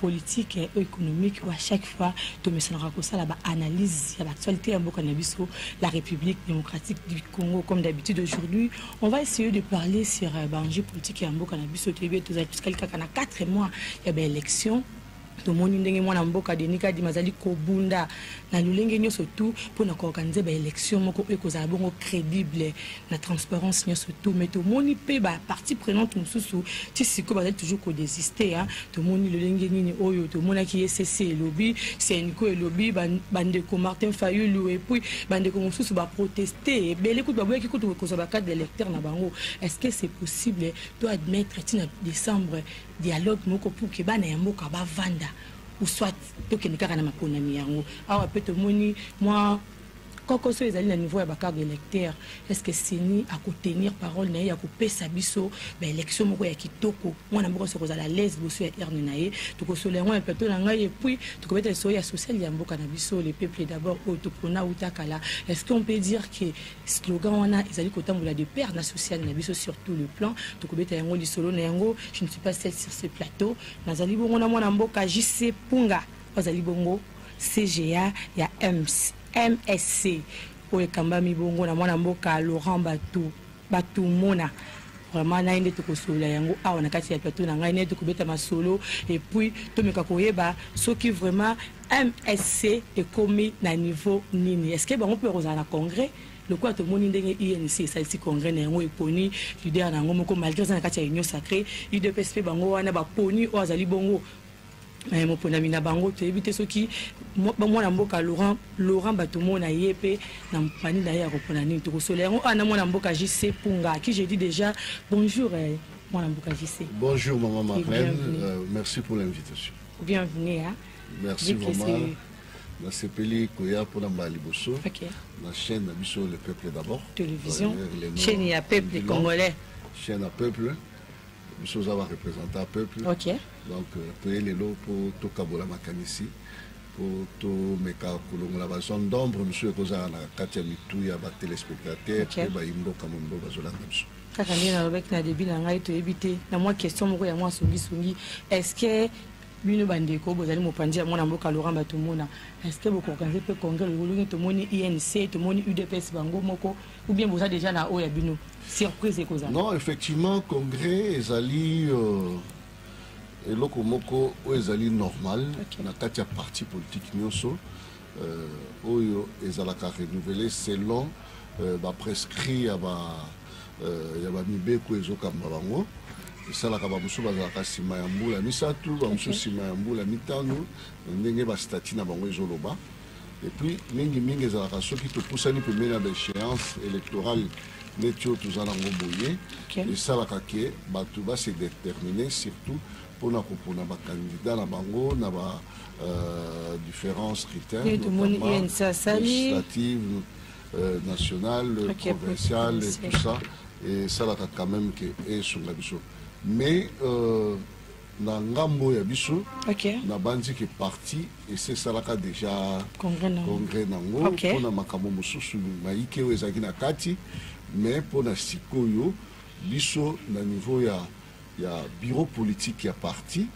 politique ou économique ou à chaque fois tomesanaka kosala ba analyse ya l'actualité ya mboka na biso la république démocratique du congo comme d'habitude aujourd'hui on va essayer de parler sur euh, baenjeu politique ya mboka na biso toyebi ete tozali tosikali kaka na 4 mois ya baélection tomoni ndenge mwana mboka denis kadima azali kobunda na lolenge nyonso tu mpo na kooganize baélection moko oyo ekozala bongo crédible na transparence nyonso to mais tomoni mpe bapartie prenante mosusu ti sikoyo bazali toujours kodesiste a tomoni lolenge nini oyo tomonaki ecc elobi senco elobi bandeko martin fayulu epuis bandeko mosusu baproteste ebele kutu baboyaki kutu kozwa bacarte d'électeur na bango est ce que c'est possible to admettre ti na décembre dialogue moko pour ke bana ya mboka bavanda ou soit tokende kaka na maponami yango awa mpe tomoni mwa koko soki ezali na niveau ya bacard électeur est ce que seni akotenir parole na ye ya kopesa biso baélection moko ya kitoko mwana mboka soki kozala alaise liboso ya urne na ye tokosolola yango na plateau na ngai epuis tokobeta lisolo ya social ya mboka na biso le peuple d'abord oyo topona uta kala est ce qu'on peut dire que slogan wana ezali kotambola de père na social na biso sur tout le plan tokobeta yango lisolo na yango je ne suis pas seul sur ce plateau nazali bongo na mwana mboka jc punga Bazali bongo CGA ya EMS, MSC oyo ekambami bongo na mwana mboka Laurent Batu Batumona vraiment naye nde tokosolola yango awa na kati ya plateau na ngai naye tokobeta masolo et puis tomeka koyeba soki vraiment msc ekomi na niveau nini est ce que bango mpe bakozala na congrès lokola tomoni ndenge unc esalisi congrès na yango eponi leader na yango moko malgré eza na kati ya union sacré udps mpe bango wana baponi oyo azali bongo Eh, moponami na bango toyebi te soki mwana mboka laurent laurent bato mona ye mpe na mpani na ye ya kopona nini tokosola yango awa ah, na mwana mboka jc punga qui je dis déjà bonjour eh, mwana mboka jc bonjour maman marlène euh, merci pour l'invitation bienvenue hein? merci vraiment nasepeli koya mpona mbala liboso okay. na chaîne na biso le peuple d'abord télévision chaîne ya peuple congolais chaîne ya peuple biso oza ba représentant ya peuple okay. donc euh, toye lelo mpo tokabola makanisi mpo tomeka kolongola bazone d'ombre mosusu ekozala na kati ya mitu ya batelespectateur mpe okay. bayimboka mombo bazolanda biso kaka ndenge nalobaki na debi na ngai toyebi te na mwa question moko ya mwa songisongi est ce que bino bandeko bozali mopanzi ya mwana mboka laurent batomona est ce que bokoorganize mpe congrès lolongi tomoni inc tomoni udps bango moko ou bien boza déjà na oyo ya bino surprise ekozala non effectivement congrès ezali euh, eloko moko oyo ezali normal okay. na kati ya parti politique nyonso euh, oyo ezalaka renouvelé selon euh, baprescrit ya ba euh, ya bamibeko ezokamba bango esalaka bamosusu bazalaka nsima ya mbula misato bamosusu nsima ya mbula mitano ndenge bastati na bango ezoloba Et puis, mingi mingi ezalaka soki topusani pembeni ya baéchéance électorale neti oyo toza nango boye esalaka ke bato base détermine surtout mpona kopona bakandida na bango na ba euh, différents critères législative euh, nationale okay, provinciale et tout ça esalaka quand même ke esunga biso mais euh, na ngambo ya biso okay. nabanzi ke parti esi esalaka deja congrès nango okay. mpona makambo mosusu mayike oyo ezalaki na kati mais mpona sikoyo biso na niveau ya, ya bureau politique ya parti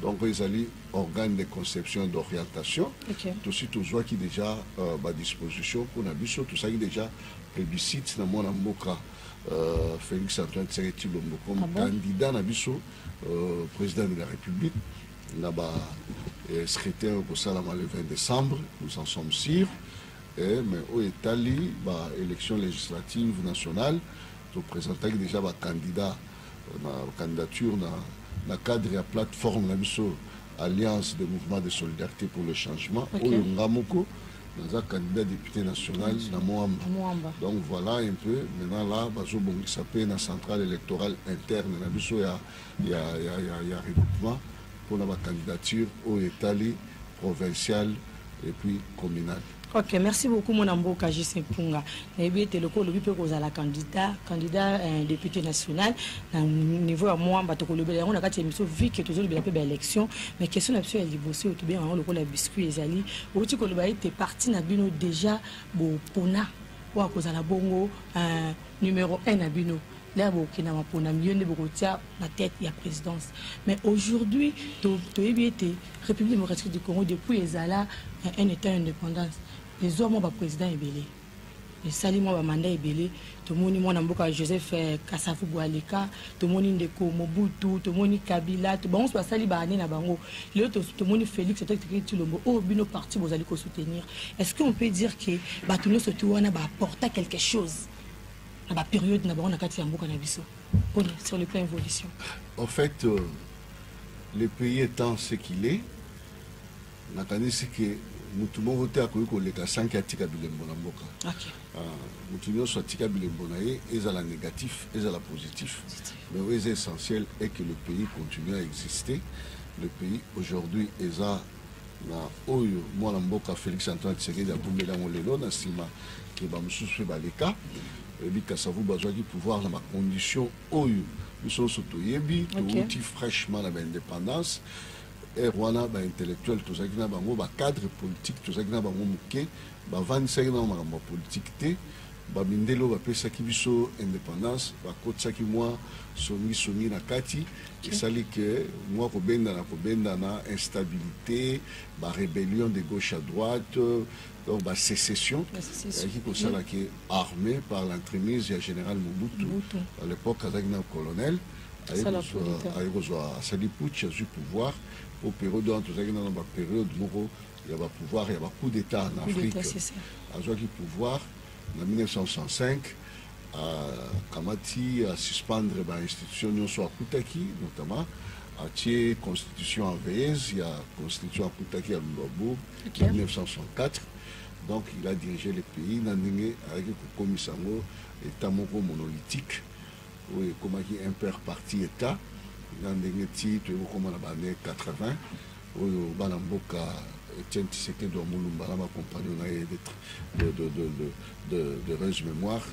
donc ezali organe de conception d'orientation okay. tosi tozwaki déjà euh, badisposition mpo na biso tosalaki déjà plébiscite na mwana mboka euh, félix antoine tshisekedi tshilombo comme ah bon? candidat na biso euh, président de la République na ba euh, secrétaire kosalama le 20 décembre nous en sommes sûrs eh, mais oyo etali ba élection législative nationale topresentaki déjà bacandidat euh, na candidature na, na cadre ya plateforme na biso alliance de mouvement de solidarité pour le changement oyo okay. nga moko naza candidat député national na moamba donc voilà un peu maintenant là bazobongisa mpe na centrale électorale interne na biso ya, ya, ya, ya, ya regroupement mpona bacandidature oyo etali provinciale et puis communale ok merci beaucoup mwana mboka jise mpunga nayebi ete lokola olobi mpe kozala candidat candidat eh, député national na niveau ya mwamba tokolobela yango na kati ya émission vu ke tozolobela mpe baélection mais question na biso ya liboso oyo tobengaka yango lokola biscuit ezali outi koloba ete parti na bino déjà bopona oyo akozala bongo eh, numéro 1 na bino lea bokenda maponami yo nde bokotia na tête ya présidence mais aujourd'hui toyebi ete république démocratique du congo depuis ezala eh, un état indépendance ezwa mwa ba president ebele esali mwa bamanda ebele tomoni mwana mboka joseph eh, kasafu bwaleka tomoni ndeko mobutu tomoni kabila bango nyonso basali baane na bango lelo tomoni félix totekiteki tilombo oyo oh, bino parti bozali kosoutenir est ce que on peut dire que bato nyonso ti wana baaporta quelque chose na baperiode na bango na kati ya mboka na biso pona sur le plan évolution en fait euh, le pays étant ce qu'il est Nakanisi ke mutu moko te akoki koleka sanke atika bilembo na mboka okay. uh, ah, mutu nyonso atika bilembo na ye ezala négatif ezala positif mais oyo eza essentiel est que le pays continue à exister le pays aujourd'hui eza na oyo mwana mboka félix antoine tshisekedi akombeli yango lelo na nsima ke bamosusu mpe baleka oyebi kasavu bazwaki pouvoir na bacondition oyo biso nyonso toyebi touti okay. fraîchement na baindépendance heure wana ba intellectuel tozalaki na bango ba cadre politique tozalaki na bango moke bavandisaki na makambo ya politike te bamindele oyo bapesaki biso indépendance bakotisaki mwa songisongi na kati esali ke mwa kobendana kobendana instabilité barébellion de gauche à droite donc basécession ezalaki kosala ke armée par l'entremise ya général mobutu à l'époque azalaki na colonel mm. aye kozwa asali putsch azwi pouvoir mpo periode wana tozalaki nano baperiode moko ya bapouvoir ya bacoup d'état na afrique azwaki pouvoir na 1965 akamati asuspendre bainstitution nyonso akutaki notamment atie constitution enveyeuse ya constitution akutaki ya lulabo 1964 donc il a dirigé le pays na ndenge ayaki kokomisa yango état moko monolithique oyo ekomaki impere parti etat na ndenge ti toyei kokoma na baane 80 oyo bana mboka Etienne Tshisekedi wa Mulumba na bakompagno na ye de rege mémoire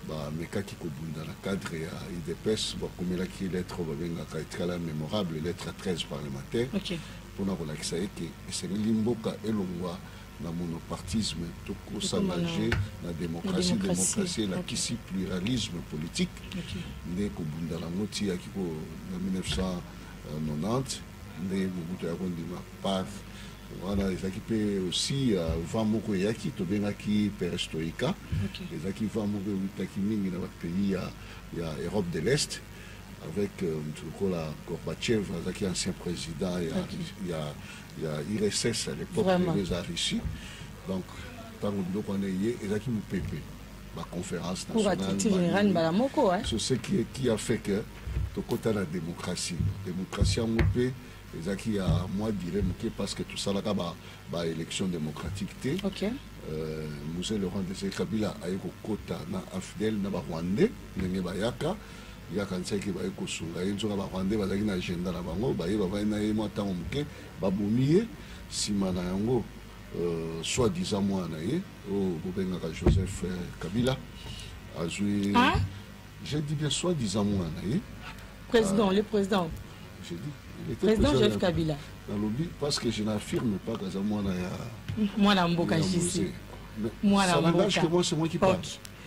bamekaki kobunda na cadre ya idps bakomelaki lettre oyo babengaka etikala mémorable lettre 13 parlementaire mpona kolakisa ete esengeli mboka elongwa na monopartisme tokosangange na démocratie démocratie elakisi pluralisme politique nde kobunda nango tiyaki ko na 1990 nde mobutu ya kondima par wana ezalaki mpe aussi euh, vent moko eyaki tobengaki perestroika ezalaki vent moko eutaki mingi na bapays ya, ya europe de l'est avec euh, moto lokola gorbachev azalaki ancien président ya, ya ya URSS à l'époque eza Russie donc ntango biloko wana eye ezalaki mopepe baconférence nationale mbala moko so ce qui, qui a fait que tokota na démocratie démocratie yango mpe ezalaki ya mwa dire moke parce que tosalaka baélection ba démocratique te okay. euh, muse laurent dese kabila aye kokota na afdel na barwandais ndenge bayaka Ye akanisaki ke baye kosunga ye, nzoka ba rwandais bazalaki na agenda na bango, baye bavandi na ye mwa tango moke, babomi ye, sima na yango euh, soit disant mwana na ye oyo oh, bobengaka Joseph euh, Kabila azwi ah? je dis bien soit disant mwana na ye président ah. le président je dis le président Joseph Kabila nalobi parce que je n'affirme pas kaza mwana ya mwana mboka jisi mwana mboka c'est moi c'est moi qui parle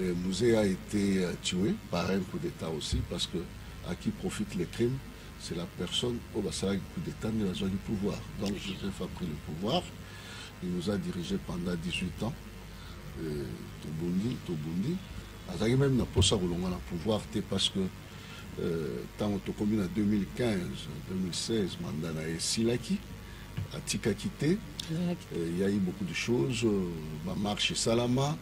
Et Muze a ete tue par un coup d'etat aussi parce que à qui profite le crime c'est la personne au basalaki coup d'etat nde bazwaki pouvoir donc joseph a pris le pouvoir il nous a dirigé pendant 18 ans euh, tobundi tobundi azalaki même na mposa kolongwa na pouvoir te parce que euh, ntango tokomi na 2015 2016 manda na ye esilaki atikaki te euh, il y a eu beaucoup de choses bamarche esalama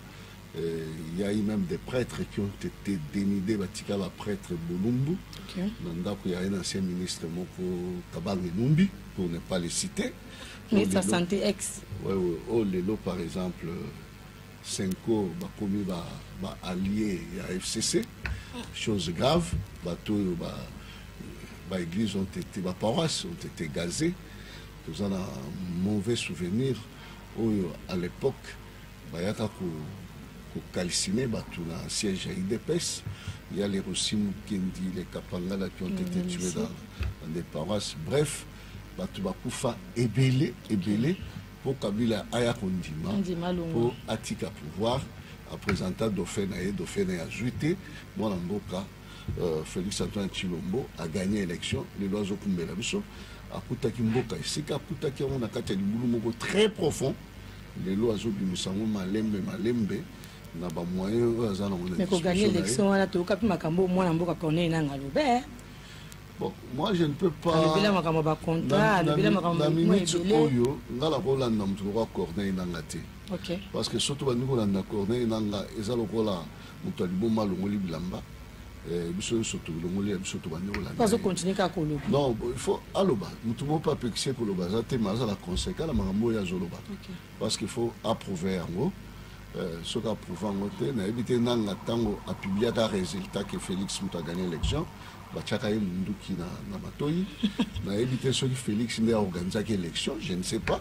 Euh, il y a eu même des prêtres qui ont été dénudés batika ba prêtre bolumbu okay. na ndako ya un ancien ministre moko kabange numbi pour ne pas le citer ministre ya santé ex ouais, ouais. o oh, lelo par exemple senko bakomi ba, ba allié ya fcc chose grave bato oyo ba, ba église ont été ba paroisse ont été gazées toza na mauvais souvenir oyo à l'époque Bayaka ko ko calciner batu na siège ya UDPS. Il y a les Rossi Mukendi, les Kapangala qui ont mm, été tués dans, dans des paroisses. Bref, batu bakufa ebele ebele. Okay. mpo kabila aya kondima mpo atika pouvoir apresenta dauphin na ye dauphin na ye azwi te mwana mboka euh, félix antoine chilombo aganye élection lelo azokumbela biso akutaki mboka esika akutaki yango na kati ya libulu moko très profond lelo azobimisa yango malembe malembe na ba moyen oyo aza nango mais koganye élection wana toyoka mpe makambo oyo mwana mboka corneille nanga alobe eh. Bon, moi je ne peux pas alobela makambo ba contrat alobela makambo na minute oyo nga nakolanda moto lokola corneille nanga te okay. parce que soki tobandi kolanda corneille nanga eza lokola moto ya liboma alongoli bilamba eh, biso nyonso tolongoli ya biso tobanyokola non il faut aloba moto moko mpe apekisi ye koloba aza te ma azala conséquent na makambo oyo azoloba parce qu'il faut approuve yango eh, soki approuve yango te nayebi te nanga ntango apubliaka résultat ke félix moto agagné élection batiaka ye monduki na, na matoi nayebi te soki félix nde aorganisaki élection je ne sais pas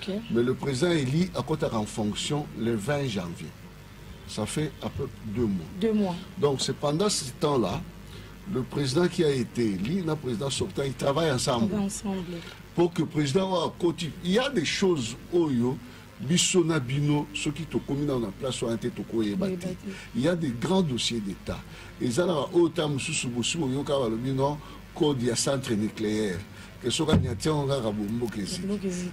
Okay. Mais le président élu akotaka en fonction le 20 janvier. Ça fait à peu près deux mois. Deux mois. Donc c'est pendant ce temps-là, le président qui a été élu, le président sortant, ils travaillent ensemble. ensemble. Pour que le président soit côté. Il y a des choses, Oyo, biso na bino soki tokomi na place wana te tokoyeba te il y a des grands dossiers d'état ezalaka oyo ta mosusu bosi boyoka balobi no code ya centre nucléaire que soki anyati yango kaka bomboka eziki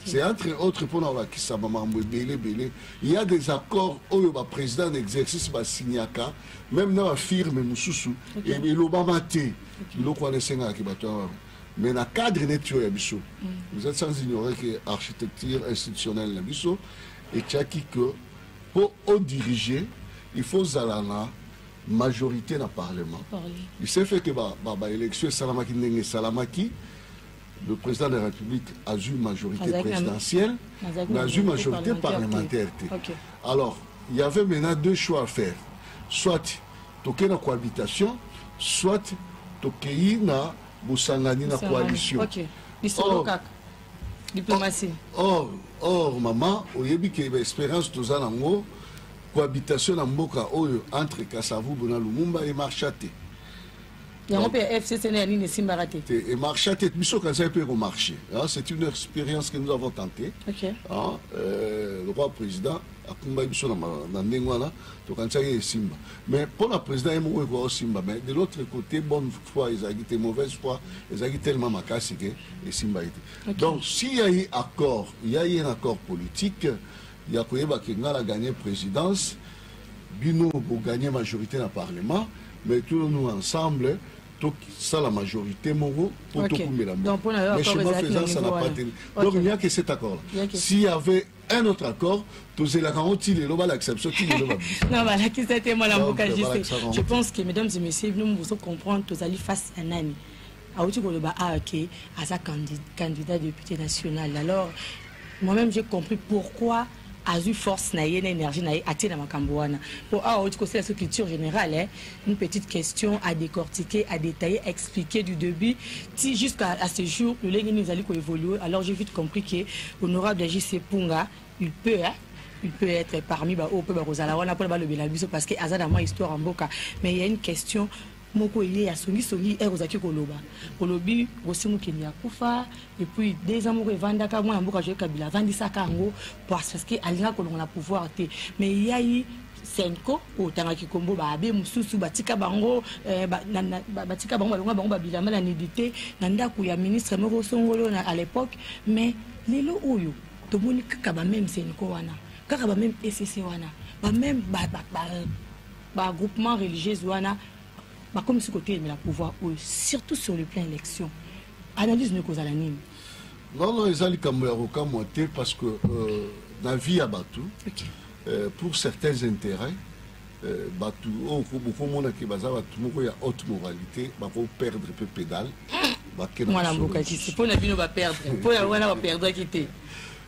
c'est entre autres mpona kolakisa bamakambo ebele ebele il y a des accords oyo baprésident na exercice basignaka même na bafirme mosusu elobama te biloko wana esengaki bato ya mais na cadre neti oyo ya biso mm. vous êtes sans ignorer que architecture institutionnelle na biso etiaki que mpo odirige il faut ozala na majorité na parlement du ce fait que baélection esalamaki ndenge esalamaki le président de la république azwi majorité présidentielle mais azwi majorité parlementaire te alors il y avait maintenant deux choix à faire soit tokei na cohabitation soit tokei na bosangani na coalition okay. lisolo kaka diplomatie or or mama oyebi ke baespérance toza nango cohabitation na mboka oyo entre kasavubu na lumumba emarcha te yango mpe ya fcc na ya nini esimbaka te te emarcha te biso kanisaki mpe ekomarche c'est une expérience que nous avons tenté okay. ah, euh, le roi président akumbaki biso na ndenge wana tokanisaki esimba mais mpo na président ye moko ekoka osimba mais de l'autre côté bonne foi ezalaki te mauvaise foi ezalaki tellement makasi ke esimbaki te okay. donc si ya ye accord ya ye na accord politique ya koyeba ke nga na gagne presidence bino bo gagne majorité na parlement mais tous nous ensemble tosala majorité moko mpo okay. tokumbela moko mais chemin faisant ça n'a pas tenu okay. donc il n'y a que cet accord là s'il y avait un autre accord tozelaka yango ti lelo balakisa biso ti lelo non balakisa te mwana mboka jc je pense que mesdames et messieurs bino bozo comprendre tozali face ya nani awuti koloba awa ah, ke aza candidat député national alors moi-même j'ai compris pourquoi azwi force na ye na énergie na ye atie na makambo wana mpo awa ah, outi kosala so culture générale eh? une petite question à décortiquer à détailler expliquer du début ti jusqu'à à ce jour lolenge nini ezali koévolue alors j'ai vite compris que honorable jc punga il peut eh? il peut être parmi baoyo mpe bakozala wana mpona balobela biso parce que aza na mwa histoire ya mboka mais il y a une question moko eye ya songisongi ere ozalaki koloba olobi rosi mukendi akufa epuis deux ans moko evandaka mwana mboka joe kabila avandisaka yango parce que alinga kolonga na pouvoir te mais eyai senco otangaki kombo baabe mosusu batika bango eh, batika bango balonga bango babilama na nudité na ndako ya ministre moko songolo na à l'époque mais lelo oyo tomoni kaka bameme senco wana kaka bameme ecc wana bameme ba groupement religieuse wana bakomisi kotelemela pouvoir oyo surtout sur le plan élection analyse no ekozala nini non non eza likambo ya kokamwa te parce que euh, na vie ya bato okay. euh, pour certains intérêts euh, bato oyo oh, bokomona ke baza bato moko ya haute moralité bakoperdre mpe pédale bakena mwana mboka kisi mpo na bino baperdre mpo na wana baperdaki te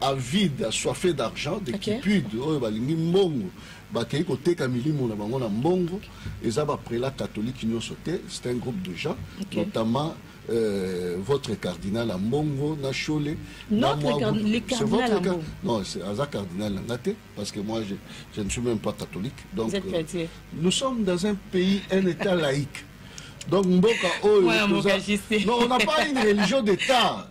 avide assoiffé d'argent de okay. kipude oyo balingi mbongo bakei koteka milimo na bango na mbongo eza baprela catholique nyonso te c'est un groupe de gens okay. notamment euh, votre cardinal Ambongo na Shole notre card le cardinal votre... Ambongo non c'est aza cardinal na te parce que moi je, je ne suis même pas catholique donc Vous êtes euh, chrétien. Euh, nous sommes dans un pays un état laïque donc mboka oyo ouais, toza... non on n'a pas une religion d'état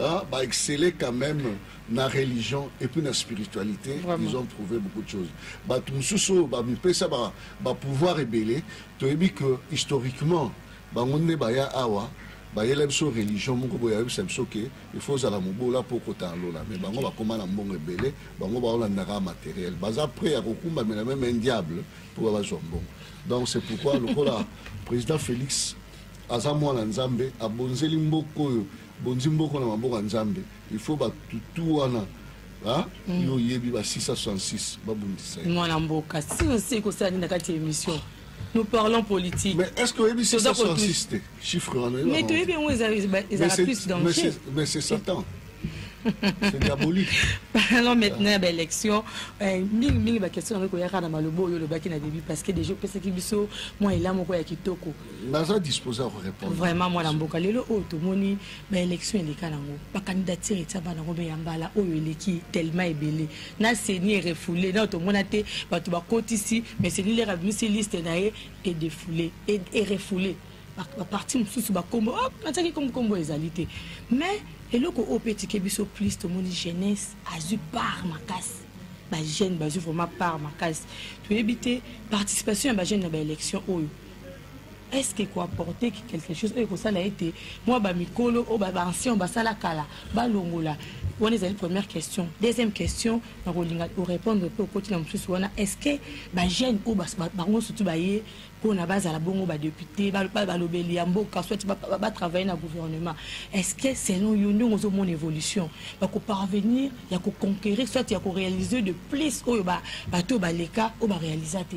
Ah, ba exceller quand même na religion et puis na spiritualité Vraiment. ils ont prouvé beaucoup de choses bato mosusu oyo bamipesa ba, ba pouvoir ebele toyebi que historiquement bango nde baya awa bayela biso religion moko boye ayebisa biso ke il faut ozala mobola mpo okota lola mais bango bakoma na mbongo ebele bango baolandaka materiel baza près ya kokumbamela meme un diable mpo bazwa mbongo donc c'est pourquoi lokola président félix aza mwana nzambe abonzeli mboka oyo Bonzi mboko na maboko ya Nzambe. Il faut ba tutu wana ah, mm. yo yebi ba 666 ba bundisa. Mwana mboka, si on sait ko sali na kati émission. Nous parlons politique. Mais est-ce que yebi 666 te chiffre wana? Mais to yebi ngo eza eza plus dangereux. Mais c'est Satan. C'est diabolique. Alors maintenant, ben, élection, euh, mingi mingi ba question yango koyaka na malobo oyo lobaki na début parce que déjà pesa ki biso moi elamu ko ya kitoko. naza disposé ya korépondre vraiment mwana mboka lelo oyo tomoni baélection eleka nango bacandidature etya bana yango me ya mbala oyo eleki tellement ebele na seni erefoule nao tomona te bato bakotisi me seni lere abimisi liste na ye edefoule erefoule baparti mosusu bakombo oh, natyaki kombokombo ezali te mais eloko oyo mpe etike biso plus tomoni jeunesse azwi part makasi bajeune bazwi vraiment part makasi toyebi te participation ya bajeune na baélection oyo est-ce que ekoapporte quelque chose oyo ekosala ete mwa bamikolo oyo baancien basala kala balongola wana ezali première question deuxième question nakolinga orépondre mpe okoti na mosusu wana est-ce que bajeune oyo bango sutu baye mpona bazala bongo badepute balobeli ya mboka soit batravaille na gouvernement est-ce que selon yo ndenge ozomona évolution bakoparvenir ya koconquérir soit ya koréalise de plus oyo bato oyo baleka oyo baréalisa te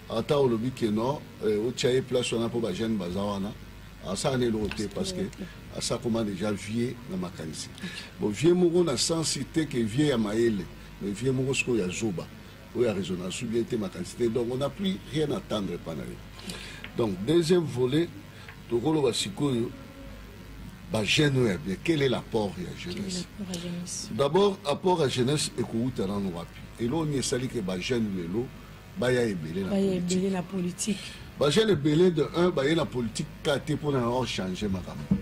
ata olobi ke no eh, otya ye place wana mpo bajeune baza wana asala na eloko te parce que asakoma déjà vie na makanisi bon vie moko na sensi te ke vie ya mayele mais vie moko sikoyo ya zoba oyo ya raisonna su bien te makanisi te donc on n'a plus rien attendre epa na ye donc deuxième volet tokoloba sikoyo bajeune oyo ya bien quel est l'apport ya jeunesse d'abord apport ya jeunesse ekowuta nano wapi eloko nini esali ke bajeune lelo baya ebele na baya ebele na politique ba jeune ebele de un baye na politique ka te mpo na yango changer makambo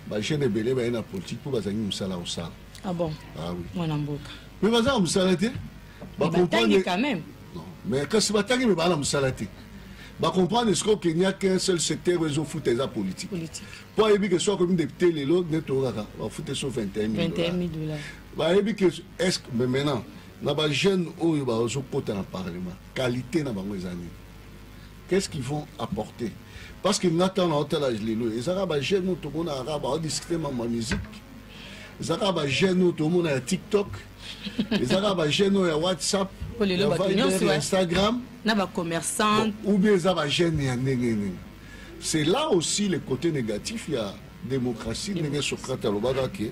ba jeune ebele baye na politique mpo bazangi mosala kosala ah bon ah oui mwana mboka mais bazanga mosala te batangi quand même mais kasi batangi me baa na mosala te bacomprendre ce qu'au kenya qu'un seul secteur oyo ezofuta eza politique mpo ayebi ke so akomi depute lelo nde toyokaka bafute so 21 bayebi ke est mais maintenant na ba jeunes oyo bazokota na parlement qualité na bango eza nini qu'est-ce qu'ils vont apporter parce que nga ntango naotala lelo ezaka ba jeunes oyo tomonaka kaka baodiscute mambo ya musique ezaka ba jeunes oyo tomona ya tiktok ezaka ba jeunes oyo ya whatsapp ya viber ya instagram na ba commerçant ou bien eza ba jeunes ya ndenge nini c'est là aussi le côté négatif ya démocratie ndenge socrate alobaka ke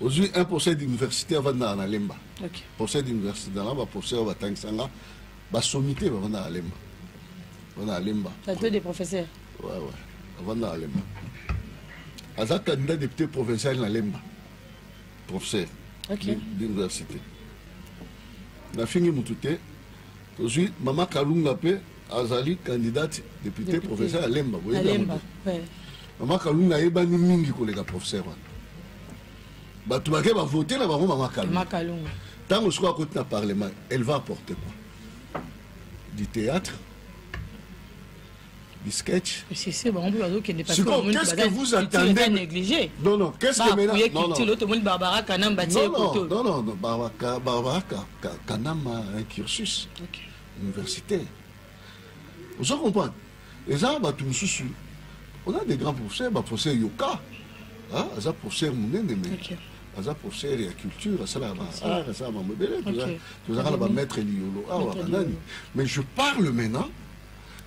ozwi un procès d'université avandaka na lemba okay. procès d'université nanga baprocès oyo batangisa nga basomi te bavandaka lemba avandaka lemba plateau de professeur ouais, ouais. avandaka lemba aza candidat député provincial na lemba professeur okay. d'université nafingi motu te tozwi mama kalunga mpe azali candidate depute professeur alemba boyebiyango mama kalunga ayebani mingi koleka professeur wana bato bake bavote na bango mama kalunga ntango sikoyo akoti na parlement elle va apporter quoi du théâtre du sketch. C'est ça, on peut pas dire qu'il n'est pas sûr. Qu'est-ce que vous attendez pas négligé. Non, non, qu'est-ce bah, que maintenant Non, non. L'autre monde Barbara Kanamba, non, non, non, non, Barbara, Barbara Kanamba, un cursus. Okay. universitaire ozo comprendre eza bato mosusu on a des grands professeurs baprofesseur yoka aza professeur monene me okay. aza professeur ya culture asalaka baart asalaka bango ebele tozalaka na bamaître liyolo awa banani mais je parle maintenant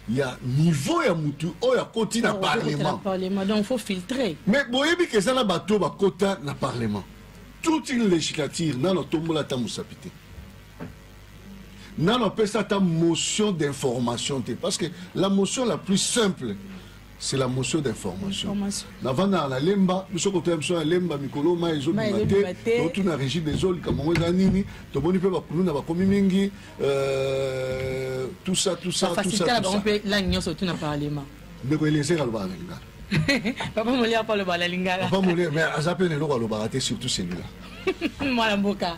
ya niveau ya motu oyo akoti na parlement mais boyebi ke eza na bato oyo bakota na parlement toute une législature nano atombola ata mosapi te nano apesa ata motion d'information te parce que la motion la plus simple c'est la motion d'information navandaka na lemba biso kotoya biso na lemba mikolo mai ezobima te totu na régime ezolika mongo eza nini tomoni mpe bakuluna bakomi mingi euh, tout ça tout ça tout ça, tout ça. langue nyonso tu na parlement ndeko elezeka alobaka na lingala papa moli apa alobaka na lingala papa moli mais aza mpe na eloko alobaka te surtout celui-là mwana mboka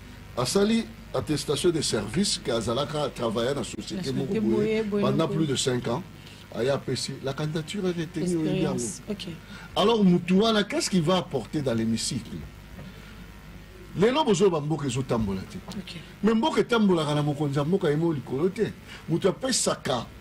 asali attestation de service ke azalaka travailler na société moko boye pendant plus de 5 ans aya apesi la candidature est retenue oyebi yango alors mutu wana qu'est ce qu'il va apporter dans l'hémicycle lelo bozoyo bamboka ezotambola te mais mboka etambolaka na mokonzi ya mboka ye moko likolo te moto apesaka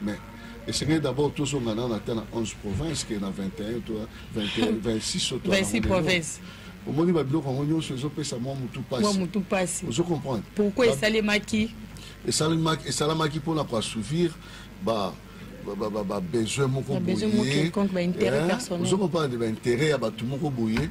Mais esengeli d'abord tozonga nano ata na 11 province ke na 21 to 21 26 to 26 province omoni babiloko yango nyonso ezopesa mwa motu mpasi ozo comprendre pourquoi esalemaki esalemaki esalamaki mpona koassouvir ba babesoin moko boye ozo comprendre baintérêt ya bato moko boye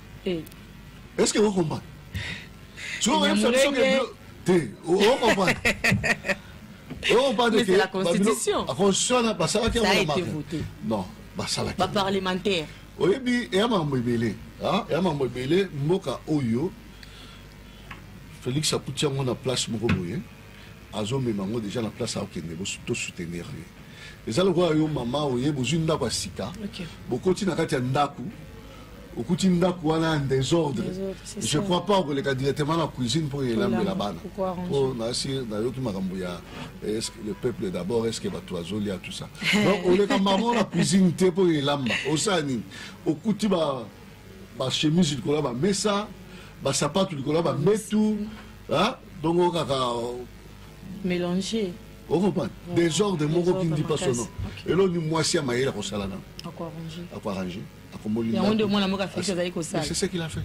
eh. est ce que o comprendre soki oyebisa biso ke te o comprendre o comprendre ke la constitution la constitution na basalaki yango na maka non basalaki ba parlementaire oyebi eya makambo ebele eya makambo ebele mboka oyo félix akuti yango na place moko boye azo mema ngo deja na place akokende to soutenir ye eza lokola yo mama oye bozwi ndako ya sika bokoti na kati ya ndako okuti ndako wana ya desordre je crois pas okoleka directement na cuisine mpo elambela bana mpo nasi nayoki makambo ya eh, le peuple d'abord est ce que bato bazolia tout ça donc oleka mama na cuisine te mpo elamba osala nini okuti bachemise likolo ya bamesa basapatu likolo ya bambetu ah donc okaka mélanger okomprendre oh, desordre moko qui ne dit pas son nom eloni mwasi ya mayele akosala nano akoarrange akomoliyangodeomwanamokafekazalikosalac'est ce qu'il a fait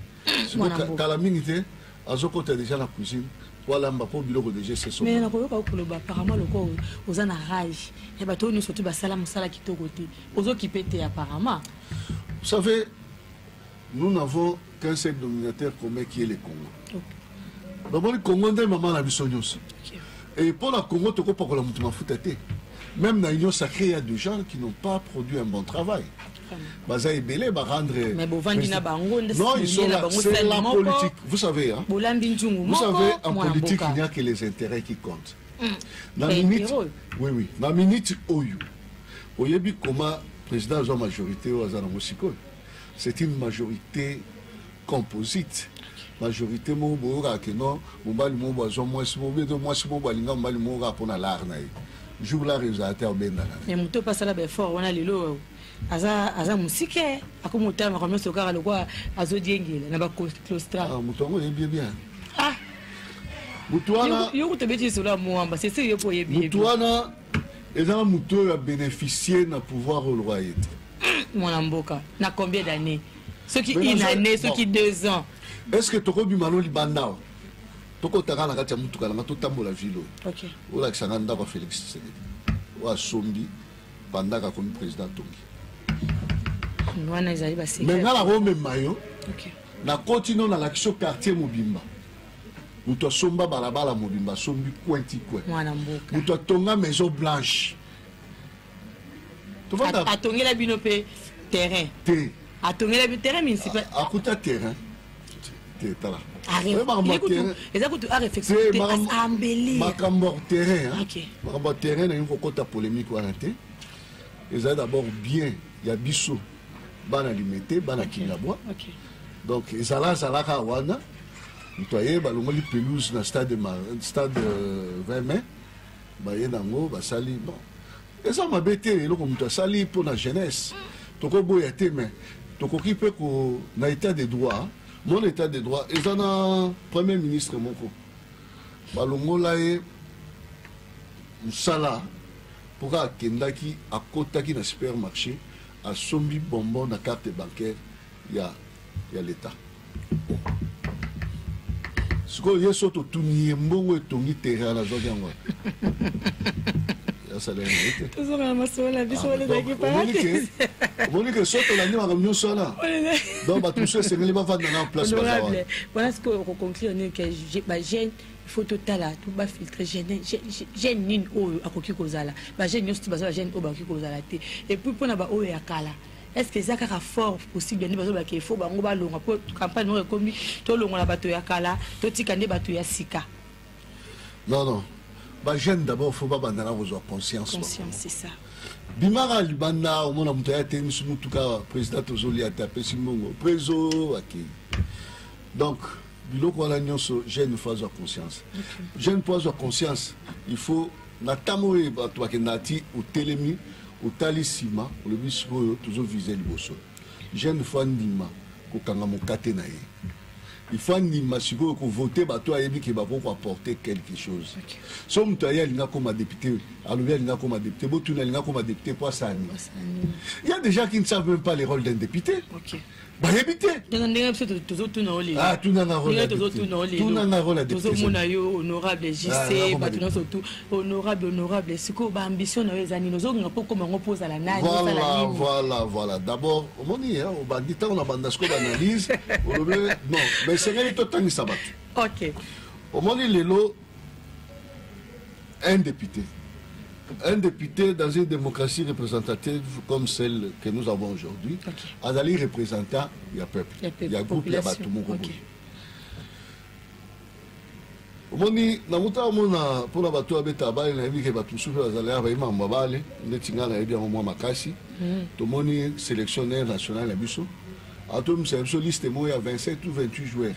kala mingi te azokota déjà na cuisine walamba mpo biloko deja esesomais nakoyoka okoloba apparemment lokola oza na rage ya bato oyo nyonso tu basala mosala kitoko te ozokipe te apparemment vous savez Nous n'avons qu'un seul denominateur commun qui est le Congo. Namoni Congo nde mama na biso nyonso. Et mpo na Congo tokopakola moto mafuta te. Même na Union sacrée, il y a des gens qui n'ont pas produit un bon travail. baza ebele barendre non ils sont là c'est la politique vous savez hein? vous savez en politique il n'y a que les intérêts qui comptent mm. na minute oui oui na minute oyo oyebi comment président azwa majorité oyo aza nango sikoyo c'est une majorité composite majorité moko boyokaka ke non mobali moko azwa mwasi moko bie to mwasi moko alinga mobali moko kaka mpo na lare na ye jour lare ezala te obendana me moto mpe asala baeffort wana lelo aza aza mosike akomi otala makambo nyonso kaka lokola azodiengela na baclostra ah, moto yango oyebi ye bien ah! moto wana yo kutu obeti lisolo ya moamba sese yo mpo oyebi moto wana eza na moto oyo abeneficie na pouvoir oyo lokola ye te hmm, mwana mboka na combien d'année soki une année soki deux ans est ce que tokobima no libanda awa tokotaka na kati ya motuka nanga totambola vile oyo olakisa nga ndako ya félix tshisekedi oyo asombi bandaka akomi président tongi wana ezali base me nga nakomema yo nakoti no nalakisi yo quartier mobimba moto asomba balabala mobimba asombi coin ti coin mwana mboka moto atonga maison blanche At- atongela bino mpe terrain te atongela bino terrain municipal akuta terrain te tala Arre- Oyo makambo ye ya kutu- terrain- eza kutu a réflexion te, te makambo- as- ambelir. makambo ya terrain hein. Ok. makambo ya terrain nalingi kokota polémique wana te eza d'abord bien ya biso bana limete bana okay. kingabwa okay. donc ezala azalaka wana moto aye balongoli pelouse na stade, stade 20 euh, mai baye nango basali bon eza mabe te eloko moto asali mpo na jeunesse tokoboya te mais tokoki mpe na état de droit mon état de droit eza na premier ministre moko balongola ye mosala mpo kaka akendaki akotaki na supermarché Asombi bonbon na carte bancaire ya, ya leta. Sikoyo ye so totuni ye mbongo etongi terrain nazwaki yango wapi? Asalaki yango te. Tozonga na masolo na biso wana ezalaki paradis. Omoni ke so tolandi makambo nyonso wana. Donc bato mosusu esengeli bavanda na place baza wana. Wana sikoyo okoconclure nini ke bajeune il faut totala to bafiltre gene gene nini oyo akoki kozala bagene nyonso ti baza bagene oyo bakoki kozala te epuis mpona baoyo ya kala est ce que eza kaka fort possible nde bazolobaka efo bango balonga mpo campagne moko ekomi tolongola bato ya kala totika nde bato ya sika non non bagene d'abord fo babandana kozwa conscience conscience c'est ça bimaka libanda omona moto aya te misu motuka président tozolia te apesi mbongo prezo akei donc biloko wana nyonso jeune faut azwa conscience jeune mpo azwa conscience il faut na ntango oyo bato bakendaka ti otelemi otali nsima olobi sikoyo tozovise liboso jeune faut andima kokanga mokate na ye il faut andima sikoyo kovote bato ayebi ke bakoki koapporte quelque chose okay. so moto aye alinga akoma député alobi alinga akoma député botuni alinga akoma député mpo asanima ya déjà qui ne savent même pas les rôles d'un député okay. bayebi te ndenge biso tozotuna ah, olinga tozotuna olelotozomona yo honorable jc ah, bato nyonso tu honorable honorable sikoyo baambition na yo eza nini ozolinga mpo okoma yango mpo ozala nanivoilà voilà d'abord omoni obandi ntango na banda sikoyo baanalyse olobi non mais esengeli totangisa bato ok omoni lelo Un député. Un député dans une démocratie représentative comme celle que nous avons aujourd'hui, okay. azali représentant ya peuple, ya groupe ya bato moko boye. Okay. omoni nakuta omona mpona bato oyo abeta bale nayebi ke bato mosusu mpe bazali awa bayebi mambo babale ndeti ngai nayebi yango mwa makasi mm. tomoni sélectionnaire national ya biso atomisa biso liste moko ya 27 ou 28 joueurs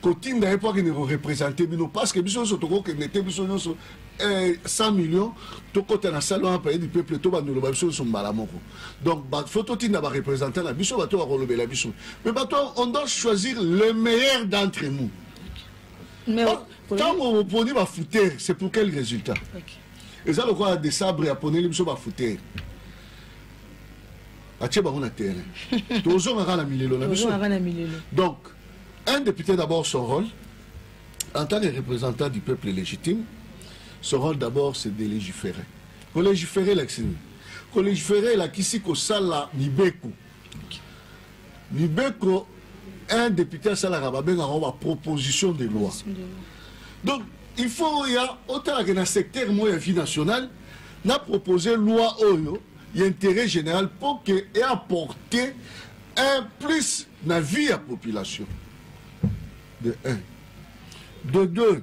kotinda ye mpo akende korepresente bino parceke biso nyonso tokokende te biso nyonso 100 eh, million tokɔta na sale wana paye du peuple tobanda oloba biso nyonso mbala moko donc fo totinda barepresentant na biso bato bakolobela biso mais bato on doit choisir le meilleur d'entre nous ntango oh, oponi bafoutere c'est pour quel résultat eza lokola desabre aponeli biso bafoutere atie bango na terrain tozongaka na milelo na biso donc un député d'abord son rôle en tant que représentant du peuple légitime son rôle d'abord c'est de légiférer kolégiférer elakisi nini kolégiférer elakisi kosala mibeko mibeko un député asalaka babengaka ngo baproposition de loi donc il faut oya otalaka na secteur moko ya vie nationale na propose loi oyo ya intérêt général mpo ke eapporte un plus na vie ya population de un de deux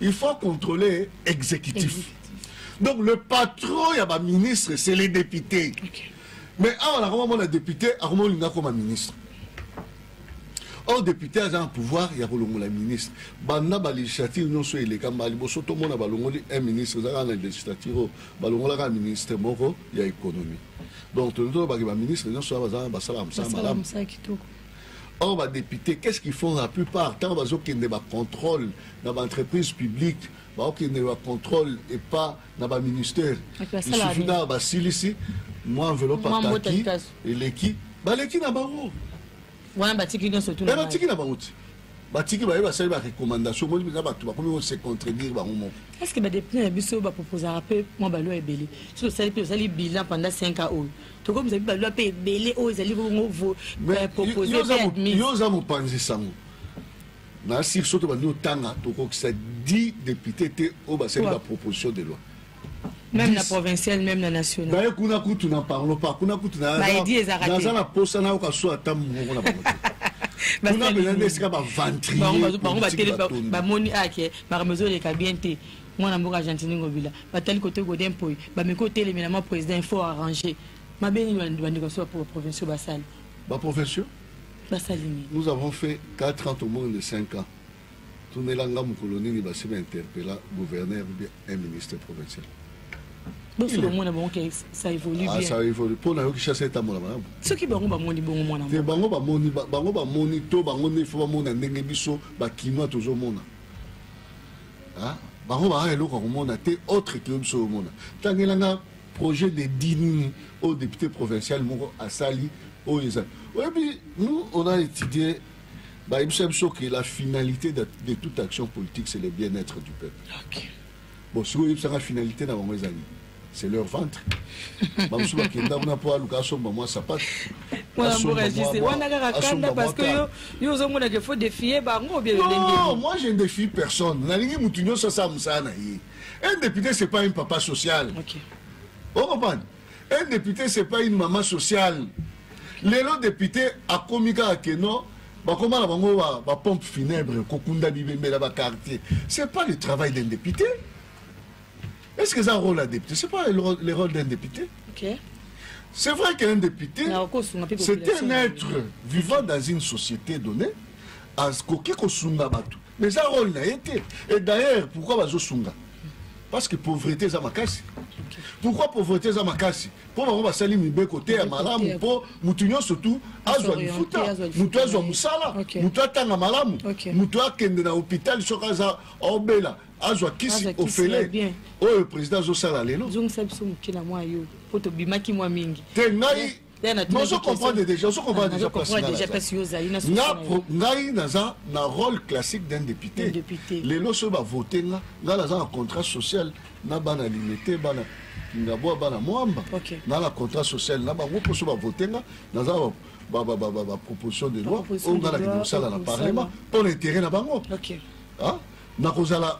il faut contrôler exécutif donc le patron ya baministre c'est les députés okay. mais awa nakoma mona député akoma olinga akoma ministre or député aza na pouvoir ya kolongola ministre banda balégislative nyonso elekamba liboso tomona balongoli un ministre eza kaka na législative oyo balongolaka ministre moko ya économie donc tolingi tolobaki baministre nyonso oyo bazala basalaka mosala malamu or badepute qu'est ce qu'ils font la plupart ntango bazokende bacontrôle na baentreprise publique baokende bacontrôle epa na baministère lisusu na basilisi mwa enveloppe ataki eleki baleki na bango wana batiki nyonso tu eh, batiki na bango ti batiki baye basali barecommandation omoni mpenza bato bakomi kose contredire bango moko est ce que badepute na biso baproposaka mpe mwa balwa ebele soki tosali mpe tosali bilan pendant 5 ans oyo tokomisa mpe balwa mpe ebele oyo ezali bongo euh, propose yo oza mopanzi sango na sir soki tobandi otanga tokokisa 10 depute te oyo basali baproposition de loi meme na provincial meme na national baye kuna kutu na parlo pas kuna kutu na baidi ezaka te naza na posa na yoka so ata moko na bango kuna bela nde esika ba ventrier bango batele bamoni ake makambo ezoleka bien te mwana mboka argentini ngobila batali kote godin poi bameki otelemela mwa président faut arranger mabe nini bandeko so ba provinciaux basali ba provinciaux basali nini nous avons fait 4 ans tomoni de 5 ans Tunela nga mokolo nini basi ba interpella gouverneur ou bien un ministre provincial. Bosi bango na bango ke ça évolue ah, bien. Ah ça évolue. Mpo na yo Kinshasa etambola malamu. Soki bango bamoni bongo mwana. Te bango bamoni bango bamoni to bango nde faut bamona ndenge biso ba kinois tozomona. Ah bango baa eloko ya komona te autre que biso omona. Tangela nga projet de dini au député provincial moko asali oyo ezali. Oyebi nous on a étudié bayebisa biso ke la finalité de, de toute action politique c'est le bien-être du peuple okay. bon sikoyo oyebisaka finalité na bango ezali c'est leur ventre bamosusu bakenda kuna mpo aluka asomba mwa sapate wana kaka kanda parce que yo yo ozomonaka faut défier bango bien non moi je ne défie personne nalingi motu nyonso asala mosala na ye un député c'est pas un papa social okay. okomprendre Un député c'est pas une maman sociale. Lelo député akomi kaka que non bakoma na bango ba, ba pompe funèbre kokunda bibembela ba quartier. C'est pas le travail d'un député. Est-ce que c'est un rôle d'un député C'est pas le rôle, le rôle d'un député. Ok. C'est vrai qu'un député, Na okosunga mpe c'est population un na être ye. vivant dans une société donnée, akoki kosunga bato. Mais eza rôle na ye te. Et d'ailleurs, pourquoi bazosunga parce que pauvrete eza makasi pourquoi pauvrete eza makasi mpo bango basali mibeko te ya malamu mpo motu nyonso tu azwa lifuta motu azwa mosala motu atanga malamu motu akende na hôpital soki aza obela azwa kisi ofele oyo président azosala lelo te ngai ozo comprendre déjà ozo comprendre déjà place nga ngai naza na rôle classique d'un député lelo soki bavote nga ngai naza na contrat social na bana limete bana kingaboa bana mwamba nga na contrat social na bango mpo soki bavote nga naza baproposition de loi oyo nga nakende kosala na parlement mpo na intérêt na bango nakozala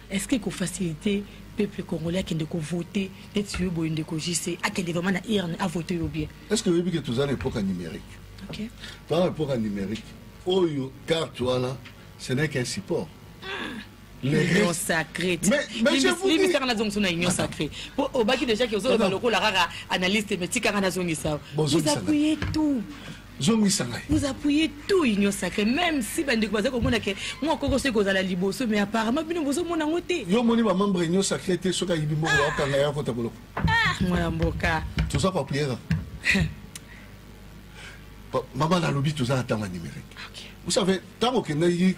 est-ce que ko faciliter peuple congolais akende ko voter neti yo boye ndeko JC akende vraiment na urne a voter yo bien est-ce que oyebi que toza na époque numérique okay. toza na époque numérique oyo carte wana ce n'est qu'un support l'union sacrée limisaka nazongisa na union sacrée po obaki déjà ke ozoloba lokola kaka analyste me tikaka nazongisa oza kuye tout zongisa ngai vous appuyez tout union sacré même si bandeko baza komona ke mwa koko soki kozala liboso mais apparemment bino bozomona yango te yo omoni bamembre union sacré te soki ayibi mbongo bakanga ya kota boloko mwana mboka toza koapuye kaka mama nalobi toza na ntango ya numérique vous savez ntango okendaki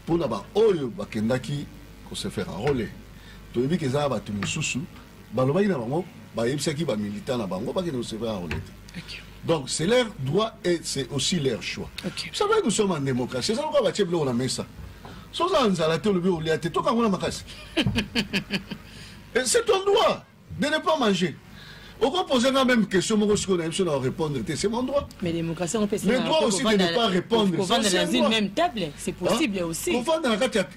mpona baoyo bakendaki kosefaire role toyebi ke eza na bato mosusu balobaki na bango bayebisaki ba militant na bango bakende kosevre arole te okay. donc c'est leur droit et c'est aussi leur choix okay. ça veut nous sommes en démocratie eza lokola batie biloko na mesa so oza na nzala te olobi olia te toka yango na makasi c'est ton droit de ne pas manger okopoze nga même question moko sikoyo na biso na orépondre te c'est mon droit mais démocratie le droit aussi de ne pas répondre kovanda na kati ya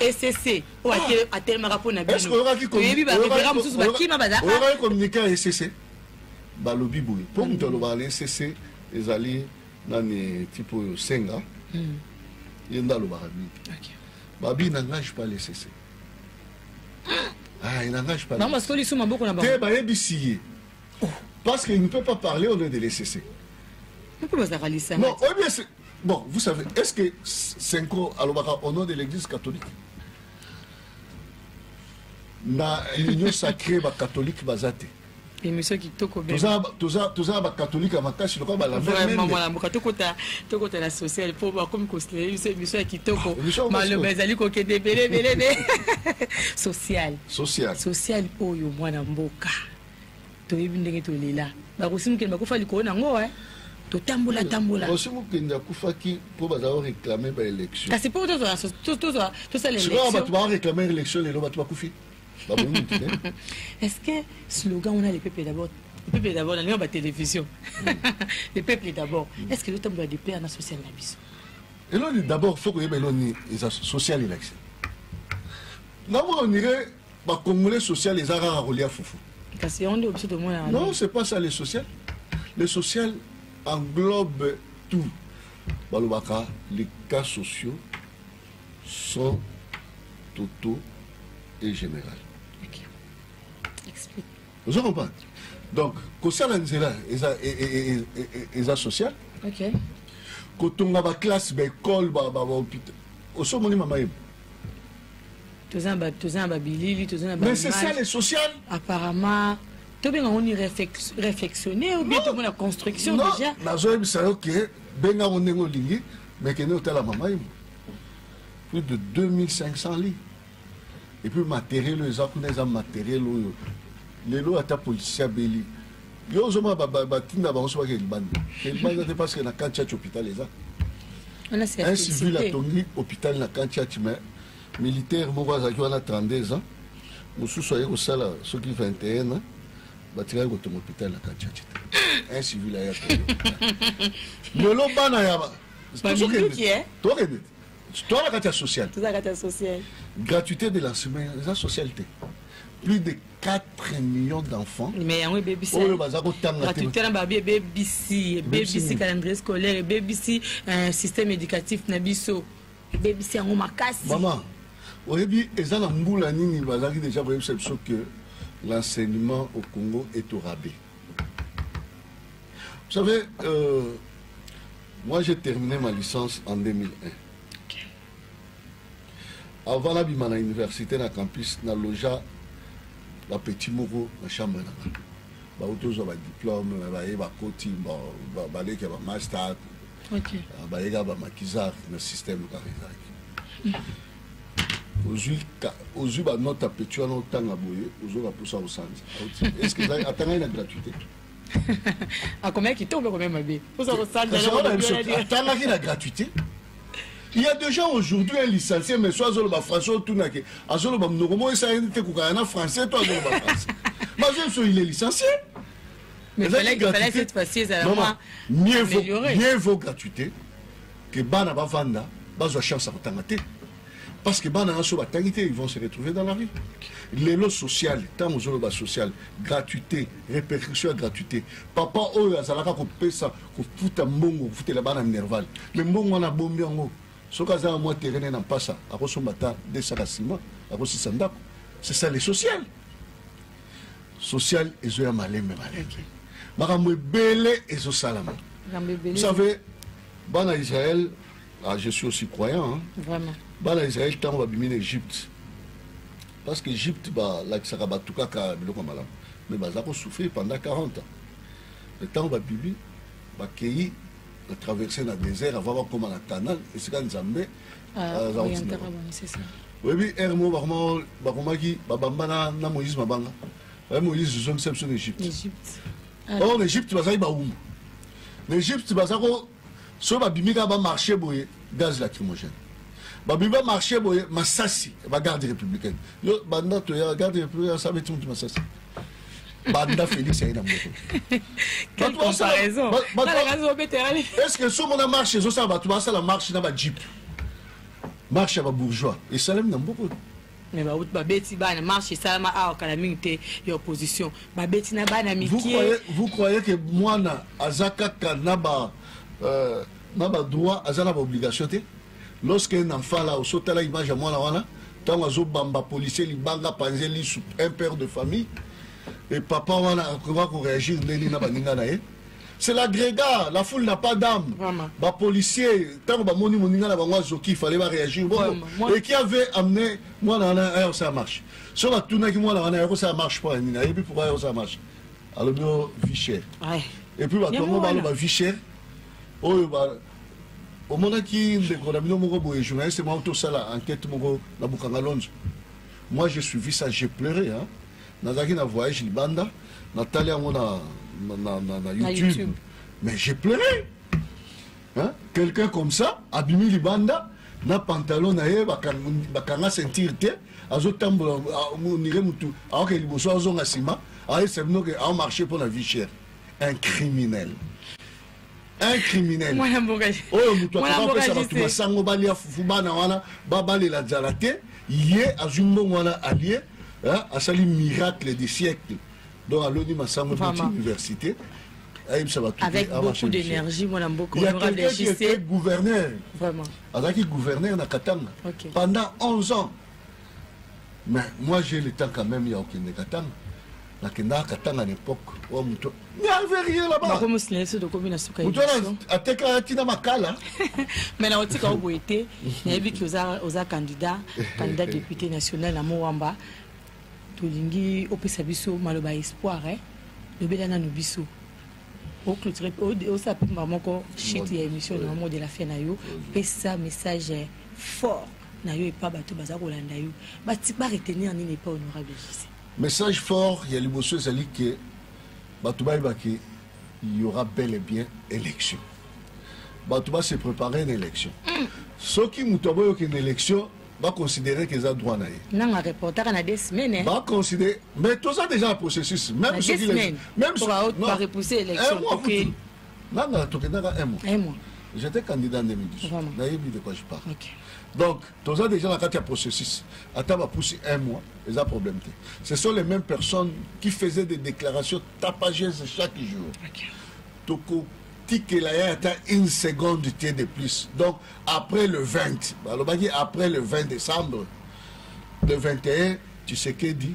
ecc oyo ah. atelemaka mpo na binotoyebi barevera mosusu bakima bazalakaoyokaki communike ya ecc balobi boye mpo moto alobaka na ecc ezali nani tipo oyo senga hmm. ye nde alobaka mingi babi nangage pas le ecc ah, nangage pas te bayebisi ye oh. parce qu'il ne peut pas parler au nom de l'ecc non oyebi Bon, vous savez, est-ce que Senko alobaka au nom de l'église catholique na union sacrée ba catholique bazate émission kitoko toza bakatholike ya makasi lokola balamamalamuka tokota na social mpo bakomi kosilele biso émission ya kitoko ah, maloba ezali kokende ebelebelebe social social oyo mwana mboka toyebi ndenge tolela bakosi mokende bakufa likolo na yango eh. totambola tambola osi mokende akufaki mpo bazala koreklame baélection kasi mpo tozwa tosala sikoyo bato bareklame élection lelo bato bakufi babomi te est ce que slogan wana lepepe d'abord le peuple d'abord nalinga batélévision le peuple d'abord est ce que ezotambola de père na social na biso eloni d'abord fo koyeba eloni eza social election namonire ba congolais social eza kaka kolia fufu kasi yango nde biso tomonaka non c'est pas ça le social le social englobe tout balobaka les cas sociaux sont totaux et général okay. explique ozo comprendre donc kosala nzela eza e, e, e, eza social okay. kotonga baklasse baekole bahopital osomoni mama yebo toza na babilili toza na mais c'est ça le social apparemment tobenga ngo ni réflexionner ou bien tomona construction déjà nazoyebisa yo ke benga ngo ndenge olingi mais kende otala mama imo plus de 2500 lits et puis matériel oyo eza kuna eza matériel oyo lelo ata policier abeli yo ozomona batinda bango so bake libanda libanda te parce que na kantiaci hôpital eza un civil atongi hôpital na kantiaci mais militaire moko azalaki wana 32 ans mosusu aye kosala soki 21 ans batikaki kotonga hopital na kanchachi te un civil aya lelo bana ya eh? tokende toa na kati ya social gratuité de lancement eza social te plus de 4 millions d'enfants mais yango ebebisi oyo baza kotanga gratuité na babi ebebisi ebebisi calendrier scolaire ebebisi euh, système éducatif na biso ebebisi yango makasi mama oyebi eza na mbula nini bazalaki deja koyebisa biso ke l'enseignement au congo est au rabais vous savez euh, moi j'ai terminé ma licence en 2001 okay. avant nabima na université na campus na loja bapetit moko na chambre na ngai bauti ozwa badiplome baye bakoti baleki ya bamaster okay. Ah, bayeka ba makizar na système kaka ezalaki ozwi banote ya petit wana otanga boye ozoka mposa osanza estce atangai na gratuité akomaki kitoko mpe akomaki mabe mposa kosanzaatangaki na gratuité il y a des gens aujourd'hui un licencié mais soit azoloba français otunake azoloba monoko moko esalaki te kokana na français to azoloba français mazo so il est licencié Mais fallait, il fallait cette fois-ci, ils allaient moins mieux vaut, mieux vaut gratuité que bana bavanda, bazwa chance à kotanga te. Parce que bana aso batangi te, ils vont se retrouver dans la rue. Lelo social, tant aux autres social, gratuité, répercussion à gratuité. Papa oyo azalaka ko pesa, ko futa mbongo, futa la bana nerval. Mais mbongo na bombi yango. Soka za moi terrain na passa, akosomba ta 200 ciment, akosisa ndako. C'est ça les sociales. social ezoya malembe malembe okay. makambo ebele ezosalama vous savez bana israël ah, je suis aussi croyant hein? Vraiment. bana israël ntango babimi na égypte parce que égypte balakisaka bato kaka biloko ya malamu mais baza kosouffrir pendant 40 ans mais ntango babibi bakei batraverse na désert avant bakóma na canal esika nzambe oyebi ere moko bakomaki babambana na moïse mabanga eh, moïse zongisa biso na egypte ah. or na egypte bazalaki bawumbu na egypte baza ko soki babimi kaka bamarché boye gaz lacrymogène babimi bamarché boye masasi bagarde républicaine yo banda toya garde républicaine asabeti motu masasi banda félix aye na motoestce somo na marche ezosala bato basala marche na bajeep marche ya babourgeois esalami na mboko mais bauti babeti bana marche esalama awa kala mingi te ya opposition babeti na bana mikie vous croyez que mwana aza kaka na ba euh, na badroit aza na baobligation te Lorsque na fala oso tala image ya mwana wana tango azo bamba policier libanga panze lisu un père de famille et papa wana akoka ko réagir ndeni na baninga na ye c'est l'agrégat la foule n'a pas d'âme ba policier tango ba moni moninga na bango azoki fallait ba réagir bon et qui avait amené mwana wana ayo ça marche so ba tunaki mwana wana ayo ça marche pas nina et puis pourquoi ayo ça marche alors bio vie chère et puis ba tongo ba vie chère oyo ba omonaki ndeko na bino moko boye journaliste moko tosala enquête moko na bukanga lonzo moi je suivi ça j'ai pleuré hein? nazalaki na voyage libanda natali yango na, na, na, na, na YouTube. YouTube mais j'ai pleuré hein? quelqu'un comme ça abimi libanda na pantalon na ye bakanga ceinture te azotambola onire motu aoke liboso azonga nsima ayesa bino ke aomarche mpo na vie chère un criminel un criminel mwana mboka oyo moto akoka kopesa bato masango balia fufu bana wana babalela nzala te ye azwi mbongo wana alie asali miracle de siècle donc aloni masango eboti université ayebisa bato avec beaucoup d'énergie mwana mboka honorable gouverneur azalaki gouverneur na katanga pendant 11 ans Mais moi j'ai le temps quand même ya okende Katanga. Nakendaka Katanga n'epoque oyo moto n'avait rien là-bas. Bako mosila yesu tokomi na suka Moto wana atekaka tina makala. Mais na otika oboye te. Nayebi ki oza oza candidat, candidat député national na Moamba. Tolingi opesa biso maloba espoir eh. Lobela nanu biso. oclotire osala mpe mbala moko chute ya émission na mode la fin na yo pesa message fort na yo epa bato baza kolanda yo ba retenir nini epa honorable jc message fort ya liboso ezali ke bato bayeba ke il y aura bel et bien élection bato ba se préparer na élection mm. soki moto aboyi okende élection baconsidere ke eza droit na ye nanga reportaka na des semaines eh. baconsidere mais toza déjà na processus même soki même soki repousse élection nga nga tokendaka un mois un mois j'étais candidat en 2012 nayebi de quoi je parle okay. donc toza déjà na kati ya processus ata bapusi un mois eza problème te ce sont les mêmes personnes qui faisaient des déclarations tapageuses chaque jour okay. toko tikela ye ata une seconde te de plus donc après le 20 balobaki après le 20 décembre le 21 tshisekedi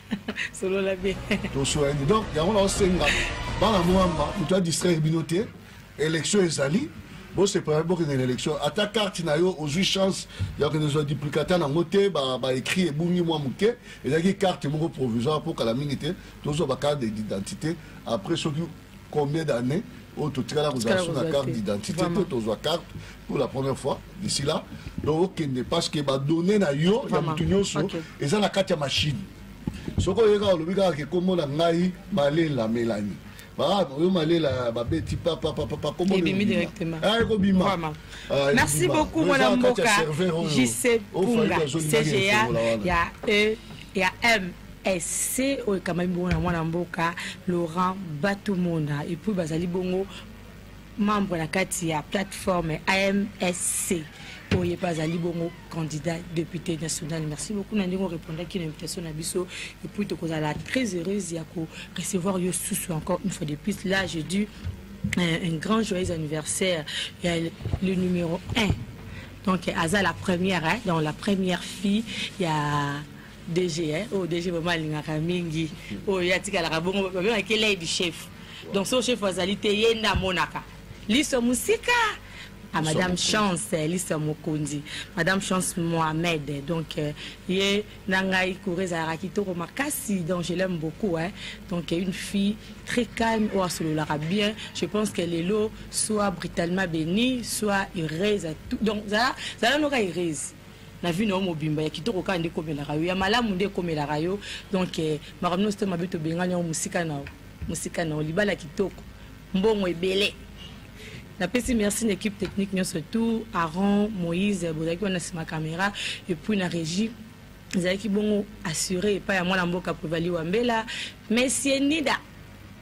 solola bien tosolani donc yango naosenga bana mwamba moto adistraire bino te élection ezali bosepela bokende na élection ata karte na yo ozwi chance ya kende zwa duplicata nango te baécrit ebungi mwa moke ezalaki karte moko provisoire mpo kala mingi te tozwa bakarte d'identité après soki combien d'années oyo totikala kozala so na carte d'identité te tozwa carte pour la première fois d'ici là donc okende parce que badonne na yo ya motu nyonso eza na kati ya machine soki oye kaka olobi kaka kekombo na ngai malela melani oyo malela babeti papapapakobima merci beaucoup mwana mboka jc punga cga ya e ya m ese oyo ekamami bongo na mwana mboka laurent batumona epuis bazali bongo membre na kati ya plateforme amsc oye mpe azali bongo candidat député national merci beaucoup na ndenge orépondaki na invitation na biso epuis tokozala très heureuse ya korecevoir yo susu encore une fois de plus là je dis euh, un grand joyeux anniversaire ya le numéro 1 donc aza la première hein, dans la première fille ya DG eh oh DG vraiment alingaka mingi oyo oh, atikalaka bongo babengaki lei du chef donc so chef azali te ye nde amonaka liso mosika à ah, Madame Chance eh, Lisa Mokondi, Madame Chance Mohamed. Eh, donc, eh, ye Nangai Kureza Rakitoro Makasi, donc je l'aime beaucoup. Hein. Donc, une fille très calme, ou oh, bien. Je pense qu'elle est là, soit brutalement bénie, soit heureuse. Donc, ça, ça, ça, ça, na vie na yo mobimba ya kitoko kaka nde ekomelaka yo ya malamu nde ekomelaka yo donc eh, makambo nyonso te mabe tobengani yango mosika na yo mosika na yo libala kitoko mbongo ebele napesi merci na équipe technique nyonso tout aron moïse bozalaki wana nsima caméra epuis na régie ezalaki bongo assure epai ya mwana mboka prevali wambela monsieur nida